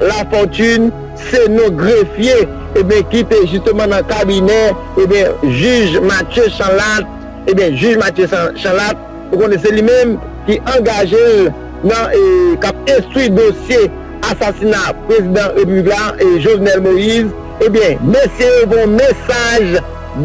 Lafortune se non grefye ebyen ki te jisteman nan kabinè ebyen jij Mathieu Chanlatte ebyen jij Mathieu Chanlatte ou konnen se li menm ki angaje l nan k ap enstwi dosye asasina prezidan repiblik la Jovenel Moïse ebyen mesye yo voye yon mesaj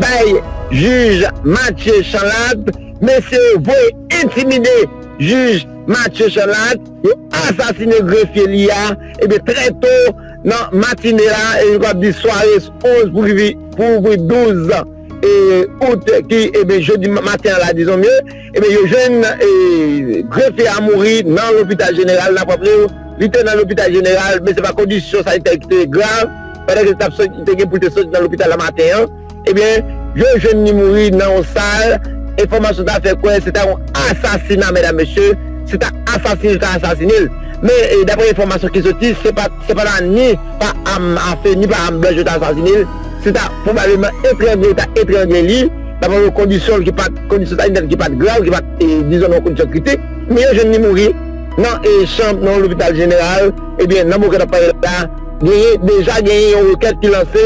bay jij Mathieu Chanlatte mesye yo voye entimide jij Mathieu Chanlatte. Yo asasine grefye li a ebyen trè to nan matine la e yo kapab di sware 11 pou ouvri 12 Out ki ebyen jodi maten an la dizon mye ebyen yo jwenn grefye a mouri nan lopital jeneral nap raple w li te nan lopital jeneral men se pa kondisyon sanitè ki te grav pandan ke li tap soti li te gen pou l te soti nan lopital la maten an. Ebyen, yo jwenn li mouri nan yon sal, enfòmasyon ta fè kwè se ta yon asasina medam mesye, se ta asasine yo ta asasine l. Men, daprè enfòmasyon ki soti, se pa ta ni pa am afe ni pa am blanch yo ta asasine l, se ta pwobableman etrangle yo ta etrangle li, daprè yon kondisyon ki pat, kondisyon sanitè l ki pat grav, ki pat dizon nan yon kondisyon kritik, men yo jwenn li mouri nan chanm nan yon lopital jeneral, ebyen nan moman ke n ap pale la, genyen, deja genyen yon rekèt ki lanse.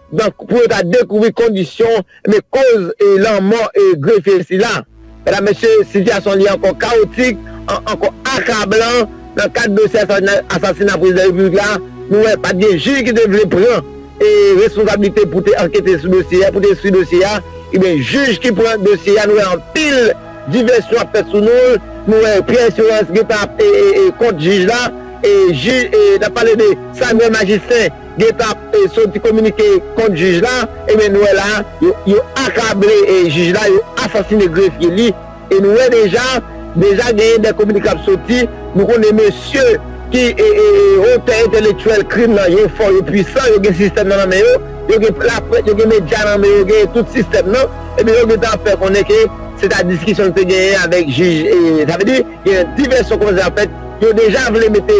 Donk pou yo ta dekouvri kondisyon enben koz lanmò grefye sila. Medam mesye sitiyasyon li ankò kawotik, ankò akablan nan kad dosye asasina prezidan repiblik la, nou wè pat gen jij ki te vle pran responsablite pou te ankete sou dosye a, pou te enstwi dosye a, enben jij ki pran dosye a nou wè anpil divèsyon ap fèt sou non l, nou wè Pierre Esperance gentan ap kont jij la, nap pale de Samuel Magistin. gentan ap soti kominike kont jij la, ebyen nou wè la yo akable jij la, yo asasine grefye li, e nou wè deja, deja genyen de kominike kap soti, nou konnen mesye ki otè entelektyèl krim nan yo fò, yo pwisan, yo gen sistèm nan nan men yo, yo gen laprès, yo gen medya nan men yo, yo gen tout sistèm nan, ebyen yo gentan ap fè konnen ke se ta diskisyon li te genyen avèk jij, sa vle di. Gen divèsyon kòmanse ap fèt, yo deja vle mete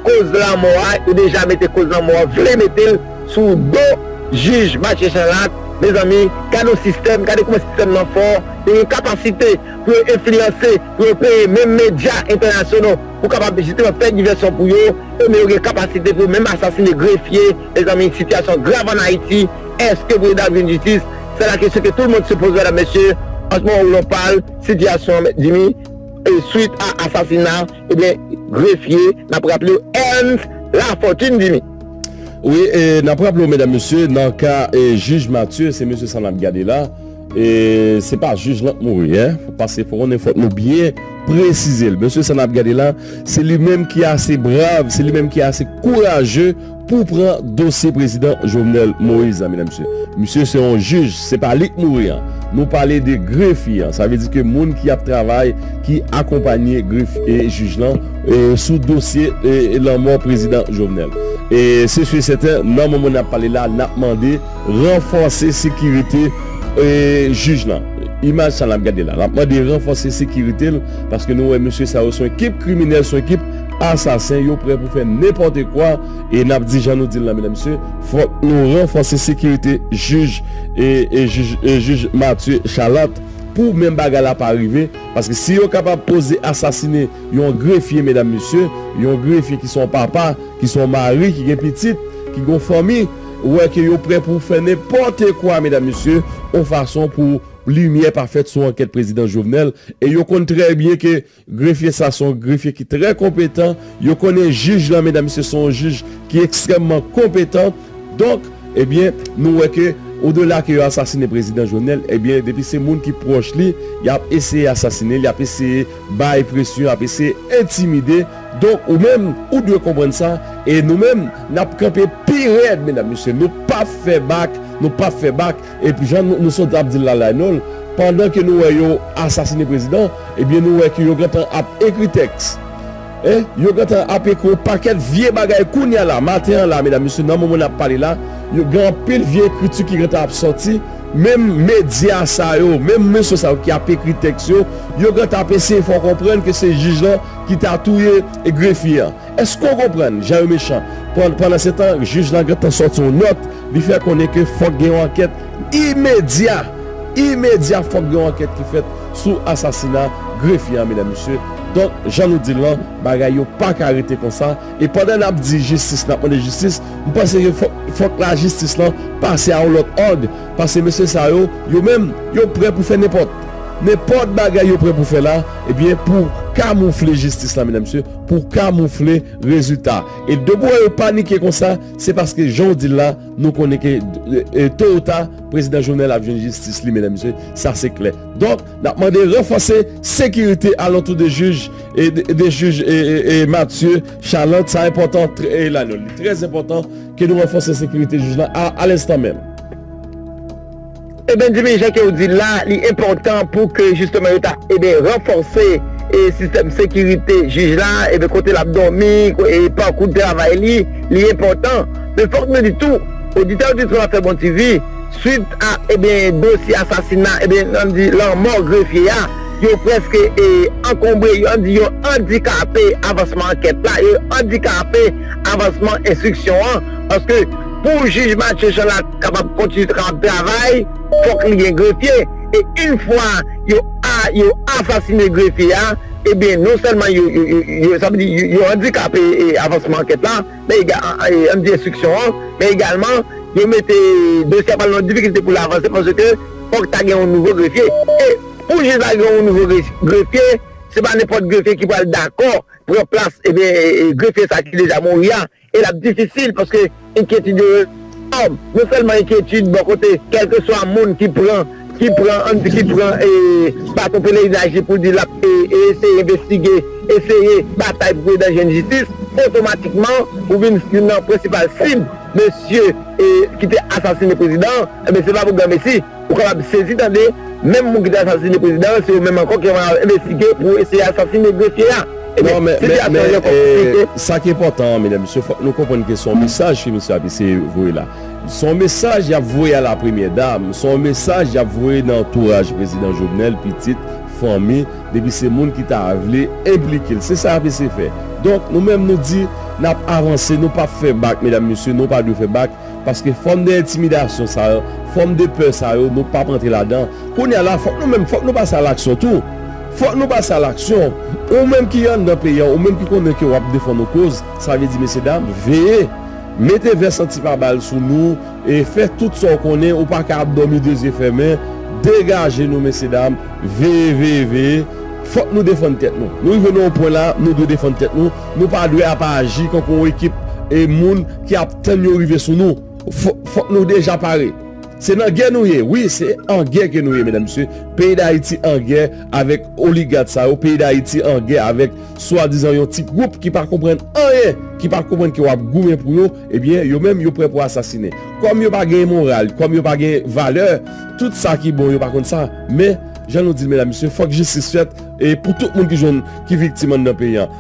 koz lanmò a, yo deja mete koz lanmò a, vle mete l sou do jij Mathieu Chanlatte, mezanmi gade yon sistèm, gade kouman sistèm nan fò, yo gen kapasite pou yo enfliyanse, pou yo peye menm medya entènasyono pou kapab jisteman fè divèsyon pou yo, e men yo gen kapasite pou yo menm asasine grefye, mezanmi sitiyasyon grav an Ayiti, èske pou yo dab jwenn jistis, sè la kesyon ke tout moun se poze medam mesye, an s moman ou l on pale sitiyasyon mèt Jimmy. Swit a asasina ebyen grefye nap raple w Ernst Lafortune Dimy. Wi e nap raple w medam mesye nan ka e jij Mathieu se mesye sa nap gade la e se pa jij lan k mouri e pase fò konnen fòk nou byen presize l mesye sa nap gade la se li menm ki ase brav se li menm ki ase kouraje Pou pran dosye prezidan jovenel moise la medam mesye misye se yon jij se pa lik mouri an nou pale de grefye an sa vle di ke moun ki ap travay ki akonpanye gref e jij lan e sou dosye e lanmò prezidan jovenel e se su e sèten nan moman nap pale la nap mande ranfòse sekirite e jij lan imaj sa nap gade la nap mande ranfòse sekiritel paske nou wè mesye sa yo son ekip kriminèl son ekip Asasen yo prè pou fè nenpòte kwa e nap di jan nou dil la medam mesye fòk nou ranfòse sekirite jij e jij Mathieu Chalant pou menm bagay la pa rive paske si yo kapab oze asasine yon grefye medam mesye yon grefye ki son papa ki son mari ki gen pitit ki gon fanmi ou wè ke yo prè pou fè nenpòte kwa medam mesye yon fason pou limyè pa fèt sou ankèt prezidan Jovenel e yo konn trè byen ke. Grefye sa se yon grefye ki trè konpetan, yo konnen jij lan medam mesye se yon jij ki ekstrèmman konpetan donk ebyen nou wè ke odela ke yo asasine prezidan Jovenel ebyen depi se moun ki pwòch li yap eseye asasine li yap eseye bay presyon yap eseye entimide donk ou menm ou dwe konprann sa e nou menm nap kanpe pi rèd medam mesye nou pap fè bak nou pap fè bak. Ep jan nou sot ap dil la Laynol pandan ke nou wè yo asasine prezidan ebyen nou wè ke yo gentan ap ekri tèks eh yo gentan ap ekri yon pakèt vye bagay kounya la maten an la medam mesye nan moman nap pale la yo gen anpil vye ekriti ki gentan ap sòti menm medya sa yo menm mesye sa yo ki ap ekri tèks yo yo gentan ap eseye fè w konprann ke se jij lan ki ta touye grefye an. Eske w konprann jan yo mechan? Pandansetan, jij lan gentan sòti yon nòt, li fè konnen ke fòk gen yon ankèt imedya, imedya fòk gen yon ankèt ki fèt sou asasina grefye an medam mesye. Donk, jan nou di l lan, bagay yo pa ka rete konsa. E pandan n ap di jistis, n ap mande jistis, m panse ke fòk, fòk lajistis lan pase a yon lòt òg, paske mesye sa yo, yo menm, yo prè pou fè nenpòt, nenpòt bagay yo prè pou fè la, ebyen pou kamoufle jistis lan medam mesye. pou kamoufle rezilta e de pou yo panike konsa se paske jan w di l la nou konnen ke to ou ta prezidan jovenel ap jwenn jistis li medam mesye sa se klè donk n ap mande ranfòse sekirite alantou de jij de jij e matye chalant sa enpòtan e la nou li trè enpòtan ke nou ranfòse sekirite jij la a lenstan menm. E Benjamin jan kew dil la li enpòtan pou ke jisteman yo ta e ben ranfòse e sistèm sekirite jij la e ben kote lap dòmi e pakou travay li li enpòtan men fòk nou di tou oditè oditris wap fè bon TV swit a e ben dosye asasina e ben nan di lanmò grefye a yo prèske e ankonbre yo di yo andikape avansman ankèt la yo andikape avansman enstriksyon an paske Pou jij Mathieu Chanlatte kapab kontinye kapab travay, fòk li gen grefye, e yn fwa yo a yo asasine grefye a, ebyen non sèlman yo yo sa vle di yo andikape avansman ankèt la, men ega an di enstriksyon an, men egalman yo mete dosye a pral nan difikilte pou l avanse paske fòk ta gen yon nouvo grefye, e pou jij la gen yon nouvo grefye, se pa nenpòt grefye ki pral dakò pran plas ebyen grefye sa ki deja mouri a. E l ap difisil paske enkyetid yo enòm. Non sèlman enkyetid bò kote kèlkeswa moun ki pran, ki pran, ann di ki pran baton pelerinaj li pou l di l ap eseye envestige, eseye batay pou prezidan jwenn jistis, otomatikman ou vin youn nan prensipal sib mesye ki te asasine prezidan an, enben se pa pou granmesi. Ou kapab sezi tande, menm moun ki te asasine prezidan an se yo menm ankò ki ap envestige pou eseye asasine grefye a. Ebyen, sitiyasyon an gen kòk konplike. Men, sa ki enpòtan an, medam, mesye, fòk nou konprann ke se yon mesaj ke misye ap eseye voye la. Se yon mesaj y ap voye a la premyè dam, se yon mesaj y ap voye nan antouraj prezidan Jovenel, pitit, fanmi, depi se moun ki ta vle enplike l. Se sa y ap eseye fè. Donk, nou menm nou di, n ap avanse, nou p ap fè bak, medam, mesye, nou pa dwe fè bak. Paske fòm de entimidasyon sa yo, fòm de pè sa yo, nou pap antre ladan. Kounye a la, fòk nou menm, fòk nou pase a laksyon tou. Fòk nou pase a laksyon. Ou menm ki anndan peyi an, ou menm ki konnen ke wap defann yon koz, sa vle di mesye dam, veye! Mete vès antipabal sou nou e fè tout sa ou konnen, ou paka ap dòmi de zye fèmen. Degaje nou mesye dam, veye, veye, veye! Fòk nou defann tèt nou. Nou rive nan yon pwen la, nou dwe defann tèt nou. Nou pa dwe ap aji kankou yon ekip moun ki ap. Tan yo rive sou nou fok nou deja pare. Se nan gè nou ye wi se an gè ke nou ye medam mesye peyi dayiti an gè avek oligat sa yo peyi dayiti an gè avek swadizan yon ti group ki pa konprann anyen ki pa konprann ke wap goumen pou yo ebyen yo menm yo prè pou asasine kom yo pa gen moral kom yo pa gen valè tout sa ki bon yo pa konn sa men jan nou dil medam mesye fok jistis fèt e pou tout moun ki jwenn ki viktim andan peyi an.